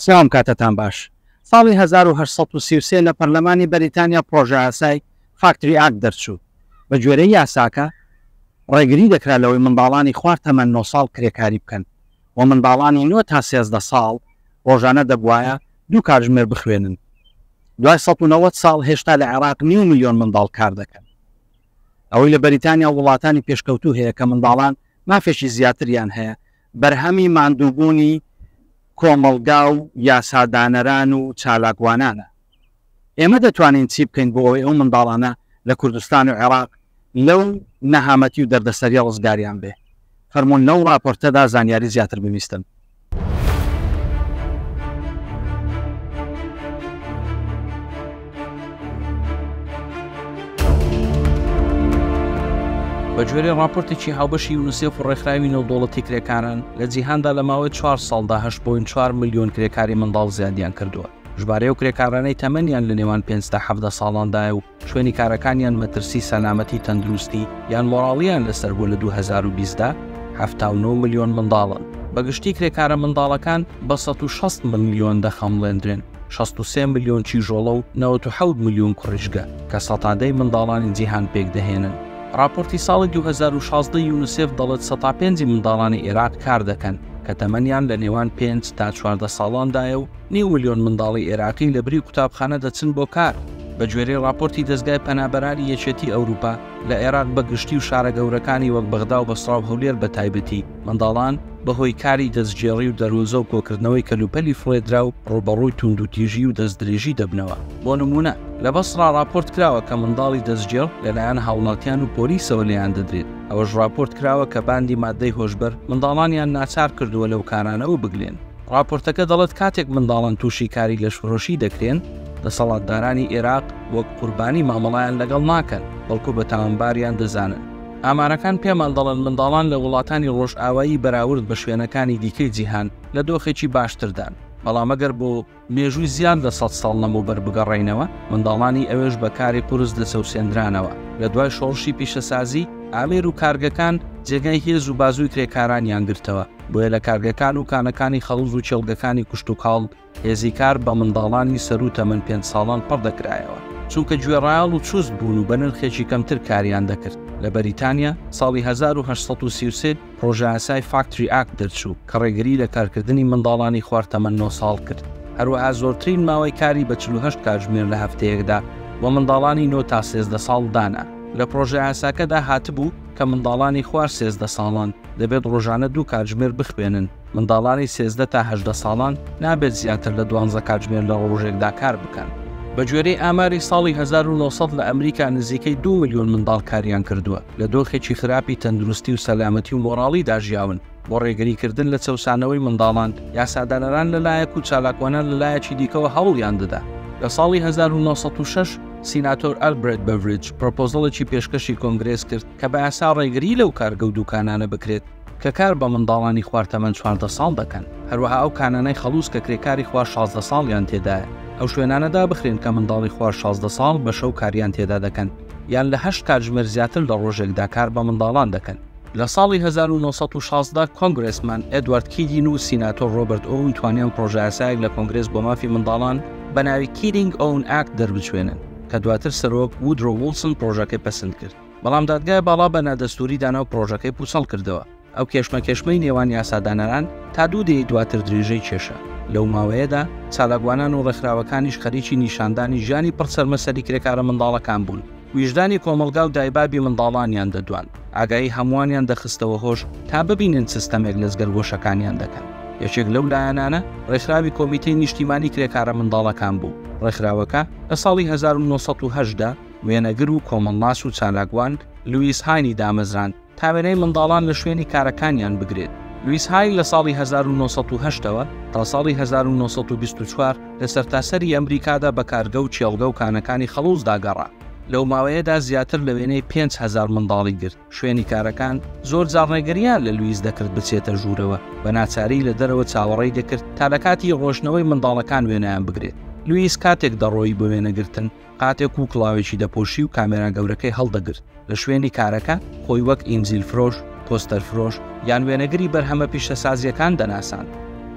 سڵاو کاتتان باش ساڵی هەزار و هەشت سەد و سی و سێ لە پەرلەمانی بەریتانیا پڕۆژەیاسای فاکتری ئاکت دەرچوو بە گوێرەی یاساکە ڕێگری دەکرا لەوەی منداڵانی خوار تەمەن نۆ ساڵ کرێکاری بکەن و منداڵانی نۆ تا سێزدە ساڵ ڕۆژانە دەبوایە دوو کاتژمێر بخوێنن دوای سەد و نەوەد ساڵ هێشتا لە عێراق نیو ملیۆن منداڵ کار دەکەن ئەوەی لە بەریتانیا وڵاتانی پێشکەوتوو هەیە کە منداڵان مافێکی زیاتریان هەیە بەرهەمی ماندووبوونی کۆمەڵگا و یاسادانەران و چالاکوانانە. ئێمە دەتوانین چی بکەین بۆ ئەوەی ئەو منداڵانە لە کوردستان و عێراق لەو نەهامەتی و دەردەسەرییە ڕزگاریان بێ؟ فەرموون لەو ڕاپۆرتەدا زانیاری زیاتر ببیستن. بەگوێرەی ڕاپۆرتێکی هاوبەشی یونسێف و ڕێکخراوی نێودەوڵەتی کرێکاران لە جیهاندا لە ماوەی چوار ساڵدا 8.4 ملیۆن کرێکاری منداڵ زیادیان کردووە ژمارەیە و کرێکارانەی تەمەنیان لە نێوان 500 حەفدە ساڵاندایە و شوێنی کارەکانیان مەترسی سەلامەتی تەندروستی یان مۆراڵیان لەسەر بوو لە 2020دا 79 ملیۆن منداڵن بەگشتی کرێکارە منداڵەکان بە 16 ملیۆن دەخەمڵێندرێن شەست و سێ ملیۆن کیژۆڵە و نەوەد و حەوت ملیۆن کوڕیژگە کە سەتا دەی منداڵانی جیهان پێکدەهێنن. ڕاپۆرتی ساڵی دوو هەزار و شازدە یونسێف دەڵێت سەتا پێنج منداڵانی ئێراق کار دەکەن کە تەمەنیان لە نێوان پێنج تا چواردە ساڵاندایە و نیو ملیۆن منداڵی ئێراقی لە بری قوتابخانە دەچن بۆ کار. بە گوێرەی ڕاپۆرتی دەزگای پەنابەرانی یەکێتی ئەوروپا، لە ئێراق بە گشتی و شارە گەورەکانی وەک بەغدا و بەسڕا و هەولێر بە تایبەتی، منداڵان بەهۆی کاری دەستگێڕی و دەروونزە و کۆکردنەوەی کەلوپەلی فڕێدراو ڕووبەڕووی توندوتیژی و دەستدرێژی دەبنەوە، بۆ نموونە لە بەسڕا ڕاپۆرت کراوە کە منداڵی دەستگێڕ لەلایەن هاوڵاتیان و پۆلیسەوە لێیان دەدرێت، ئەوەش ڕاپۆرت کراوە کە باندی ماددەی هۆشبەر منداڵانیان ناچار کردووە لەو کارانەوە بگلێن. ڕاپۆرتەکە دەڵێت کاتێک منداڵان تووشی کاری لەشفرۆشی دەکرێن، دەسەڵاتدارانی ئێراق وەک قوربانی مامەڵەیان لەگەڵ ناکەن، بەڵکو بە تاوانباریان دەزانن. ئامارەکان پێمان دەڵێن منداڵان لە وڵاتانی ڕۆژئاوایی بەراورد بە شوێنەکانی دیکەی جیهان لە دۆخێکی باشتردان، بەڵام ئەگەر بۆ مێژووی زیاد لە سەد ساڵ لەمەوبەر بگەڕێینەوە، منداڵانی ئەوێش بە کاری قورس دەچەوسێندرانەوە، لە دوای شۆڕشی پیشەسازی، ئامێر و کارگەکان جێگای هێز و بازووی کرێکارانیان گرتەوە، بۆیە لە کارگەکان و کانەکانی خەڵوز و کێڵگەکانی کشتوکاڵ هێزی کار بە منداڵانی سەروو تەمەن پێنج ساڵان پڕ دەکرایەوە، چونکە گوێڕایەڵ و چوست بوون و بە نرخێکی کەمتر کاریان دەکرد. لە بەریتانیا، ساڵی هەزار و هەشت سەد و سی و سێ پڕۆژەیاسای فاکتری ئاکت دەرچوو، کە ڕێگری لە کارکردنی منداڵانی خوار تەمەن نۆ ساڵ کرد. هەروەها زۆرترین ماوەی کاری بە چل و هەشت کاتژمێر لە هەفتەیەکدا بۆ منداڵانی نۆ تا سێزدە ساڵ دانا. لە پڕۆژەیاساکەدا هاتبوو کە منداڵانی خوار سێزدە ساڵان دەبێت ڕۆژانە دوو کاتژمێر بخوێنن. منداڵانی سێزدە تا هەژدە ساڵان نابێت زیاتر لە دوانزە کاتژمێر لە ڕۆژێکدا کار بکەن. بە گوێرەی ئاماری ساڵی هەزار و نۆ سەد لە ئەمریکا نزیکەی دوو ملیۆن منداڵ کاریان کردووە لە دۆخێکی خراپی تەندروستی و سەلامەتی و مۆڕاڵیدا ژیاون. بۆ ڕێگریکردن لە چەوسانەوەی منداڵان، یاسادانەران لە لایەک و چالاکوانان لە لایەکی دیکەوە هەوڵیان دەدا. لە ساڵی هەزار و نۆ سەد و شەش سیناتۆر ئەلبرێت بەڤریج پرۆپۆزەڵێکی پێشکەشی کۆنگرێس کرد کە بە یاسا ڕێگری لەو کارگە و دوکانانە بکرێت کە کار بە منداڵانی خوار تەمەن چواردە ساڵ دەکەن، هەروەها ئەو کانانەی خەڵووز کە کرێکاری خوار شازدە ساڵیان تێدایە، ئەو شوێنانە دابخرێن کە منداڵی خوار شازدە ساڵ بە شەو کاریان تێدا دەکەن یان لە هەشت کاتژمێر زیاتر لە ڕۆژێکدا کار بە منداڵان دەکەن. لە ساڵی هەزار و نۆ سەد و شازدە کۆنگرێسمان ئێدوارد کیدین و سیناتۆر ڕۆبەرت ئۆون توانیان پڕۆژەیاسایەک لە کۆنگرێس بۆ مافی منداڵان بە ناوی Kidding Own Act دەربچوێنن، کە دواتر سەرۆک وودرۆ وڵسن پڕۆژەکەی پەسند کرد. بەڵام دادگای باڵا بە نادەستوری دانا و پرۆژەکەی پوچەڵ کردەوە. ئەو کێشمەکێشمەی نێوان یاسادانەران تا دوو دەیەی دواتر درێژەی کێشا. لەو ماوەیەدا چالاکوانان و ڕێکخراوەکانیش خەریکی نیشاندانی ژیانی پڕ چەرمەسەری کرێکارە منداڵەکان بوون. ویژدانی کۆمەڵگا و دایبابی منداڵانیان دەدواند. ئاگایی هەمووانیان دەخستەوە هۆش تا ببینن چ ستەمێک لە جگەرگۆشەکانیان دەکەن. یەکێک لەو لایەنانە ڕێکخراوی کۆمیتەی نیشتیمانی کرێکارە منداڵەکان بوو. ڕێکخراوەکە لە ساڵی هەزار و نۆ سەد و هەشت دا، وێنەگر و کۆمەڵناس و چالاکوان لویس هاینی دامەزراند تا وێنەی منداڵان لە شوێنی کارەکانیان بگرێت. لویس هاین لە ساڵی هەزار و نۆ سەد و هەشت ەوە تا ساڵی هەزار و نۆ سەد و بیست و چوار لە سەرتاسەری ئەمریکادا بە کارگە و کێڵگە و کانەکانی خەڵوزدا گەڕا، لەو ماوەیەدا زیاتر لە وێنەی پێنج هەزار منداڵی گرت، شوێنی کارەکان زۆرجار ڕێگرییان لە لویس دەکرد بچێتە ژوورەوە، بە ناچاری لە دەرەوە چاوەڕێی دەکرد تا لە کاتی ڕۆشتنەوەی منداڵەکان وێنەیان بگرێت. لویس کاتێک دەڕۆیی بۆ وێنەگرتن، قاتێک و کڵاوێکی دەپۆشی و کامێرا گەورەکەی هەڵدەگرت، لە شوێنی کارەکە خۆی وەک ئینجیل فرۆش، پۆستەر فرۆش، یان وێنەگری بەرهەمە پیشەسازییەکان دەناساند،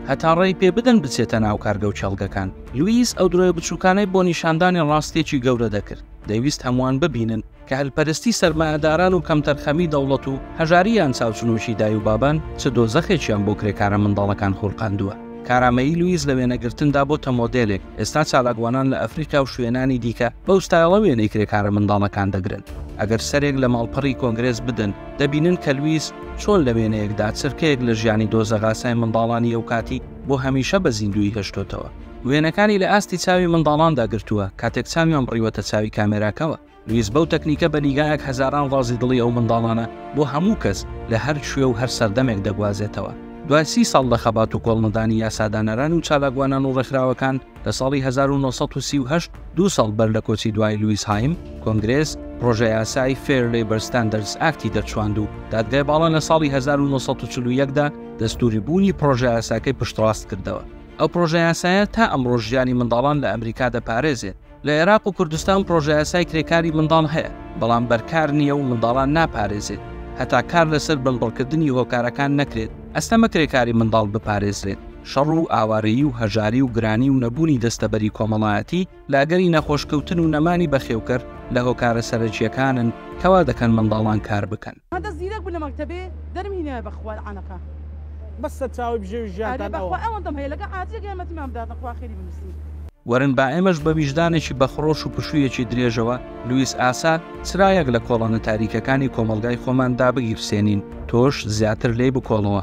هەتا ڕێی پێ بدەن بچێتە ناو کارگە و کێڵگەکان. لویس ئەو درۆیە بچووکانەی بۆ نیشاندانی ڕاستییەکی گەورە دەکرد، دەیویست هەمووان ببینن، کە هەلپەرستی سەرمایەداران و کەمتەرخەمی دەوڵەت و هەژاری یان چاوچنۆکی دای و بابان چ دۆزەخێکیان بۆ کرێکارە منداڵەکان خولقاندووە. کارامەیی لویس لە وێنەگرتندا بۆتە مۆدێلێک، ئێستا چالاکوانان لە ئەفریقا و شوێنانی دیکە بەو ستایڵە وێنەی کرێکارە منداڵەکان دەگرن. ئەگەر سەرێک لە ماڵپەڕی کۆنگرێس بدەن، دەبینن کە لویس چۆن لە وێنەیەکدا چرکەیەک لە ژیانی دۆزەغاسای منداڵانی ئەوکاتی بۆ هەمیشە بە زیندوویی هێشتۆتەوە. وێنەکانی لە ئاستی چاوی منداڵاندا گرتووە، کاتێک چاویان بڕیوەتە چاوی کامێراکەوە. لویس بەو تەکنیکە بە نیگایەک هەزاران ڕازی دڵی ئەو منداڵانە بۆ هەموو کەس لە هەر کوێ و هەر سەردەمێک دەگوازێتەوە. دوای سی ساڵ لە خەبات و کۆڵنەدانی یاسادانەران و چالاکوانان و ڕێکخراوەکان، لە ساڵی هەزار و نۆ سەد و سی و هەشت، دوو ساڵ بەر لە کۆچی دوایی لویس هایم، کۆنگرێس پڕۆژەیاسای Fair Labor Standards Act ی دەرچواند و دادگای باڵا لە ساڵی هەزار و نۆ سەد و چل و یەک دا دەستووری بوونی پڕۆژەیاساکەی پشتڕاست کردەوە. ئەو پڕۆژەیاسایە تا ئەمڕۆش ژیانی منداڵان لە ئەمریکا دەپارێزێت. لە عێراق و کوردستان پڕۆژەیاسای کرێکاری منداڵ هەیە، بەڵام بەرکار نییە و منداڵان ناپارێزێت، هەتا کار لەسەر بنبڕکردنی هۆکارەکان نەکرێت، ئەستەمە کرێکاری منداڵ بپارێزرێت. شەڕ و ئاوارەیی و هەژاری و گرانی و نەبوونی دەستەبەری کۆمەڵایەتی لە ئەگەری نەخۆشکەوتن و نەمانی بەخێوکەر لە هۆکارە سەرەکییەکانن کە وا دەکەن منداڵان کار بکەن. هەندە زیرەک بوو لە مەکتەبێ دەرم هینایە بەخوا لەعانەقە. بەس سەرچاوەی بژێوی ژیانتان ئەوە. ئەرێ بەخوا ئەوەندەم هەیە لەگەڵ عاتیەک یارمەتیمان بداتن خوا خێری بنوسین. وەرن با ئێمەش بە ویژدانێکی بەخڕۆش و پشوویەکی درێژەوە لویس ئاسا چرایەک لە کۆڵانە تاریکەکانی کۆمەڵگای خۆمان دابگیرسێنین، تۆش زیاتر لێی بکۆڵەوە.